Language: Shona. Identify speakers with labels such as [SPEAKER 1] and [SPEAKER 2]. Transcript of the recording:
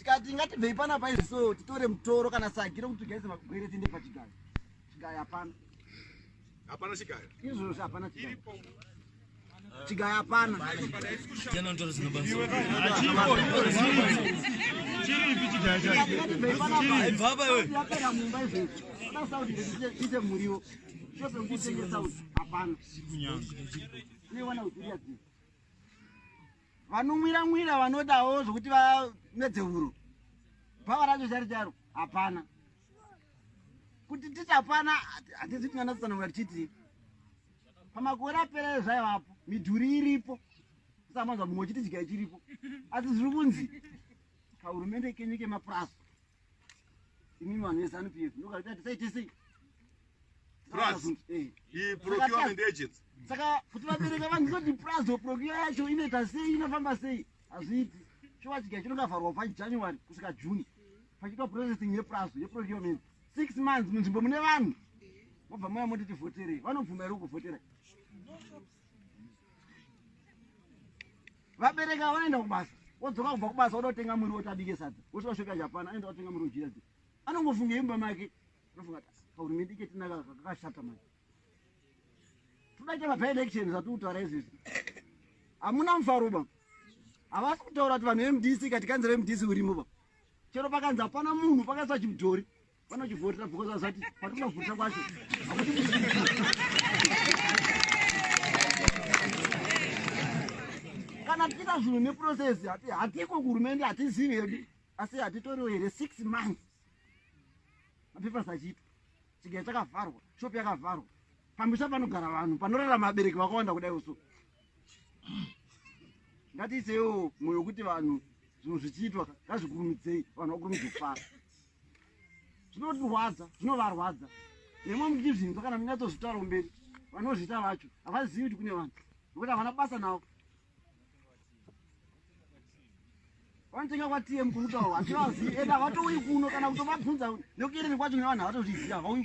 [SPEAKER 1] tikati ngatibvei pana paizvi so titore mutoro kana sagi rokuti tigaise magwere tiende pachigayo chigayo hapana hapana
[SPEAKER 2] chigayo izvozvo hapana
[SPEAKER 3] chigayo chigayo hapana
[SPEAKER 1] ite muriwo topekutengesa hapana newana uziria dzii Vanonwira nwira vanodawo zvokuti vamedze huro. Bhava racho chari charo hapana. Kuti titi hapana hatizi kuti mwana tsana ngatichiti. Pamakore apera zvaivapo midhuri iripo. Samanzwa mumwe chiti chigaya chiripo. Asi zviri kunzi kahurumende kenyu kemapurazi Imi vanhu vezanu PF ndokarita tisaite sei? Plus,
[SPEAKER 4] eh. i procurement agents. Saka kuti vabereka
[SPEAKER 1] vanhu kuti plus or procure yacho inoita sei inofamba sei? Hazviiti. Chova chigaya chinongavharwa pa January kusvika June. Pachiitwa processing ye plus ye procurement. 6 months munzvimbo mune vanhu. Mobva moya moti tivhotere. Vanobvuma here kuvhotera? vabereki ava vanoenda kubasa wodzoka kubva kubasa woda kutenga muriwo kuti abike sadza wosvika kusvika japan anoenda kutenga muriwo jira dzi anongofunga imba make anofunga kuti kahurumende ke tinaka kakashata manje todaita mapaelection zvatiri kutaura izvizvi hamuna mufaro ba havasi kutaura kuti vanhu vemdc kati kanzi remdc urimo ba chero pakanzi hapana munhu pakaisa chimudhori vanochivhotera because azati patinobvutira kwacho kana tichiita zvinhu neprocess hatiko kuhurumende hatizivi hedu asi hatitoriwo here six months mapepers achiitwa chigaya chakavharwa shop yakavharwa pamisha panogara vanhu panorarama abereki vakawanda kudai uso ngatiisewo mwoyo wekuti vanhu zvinhu zvichiitwa ngazvikurumidzei vanhu vakurumidza kufara zvinotirwadza zvinovarwadza nemwe mukizvinzwa kana munyatsozvitaura kumberi vanozvita vacho havazivi kuti kune vanhu nokuti havana basa navo vanotenga kwatm kunutaurwa hativazivi ende havatouyi kuno kana kutovabvunza nekuyerere kwacho nevanhu havatozviziva havauyi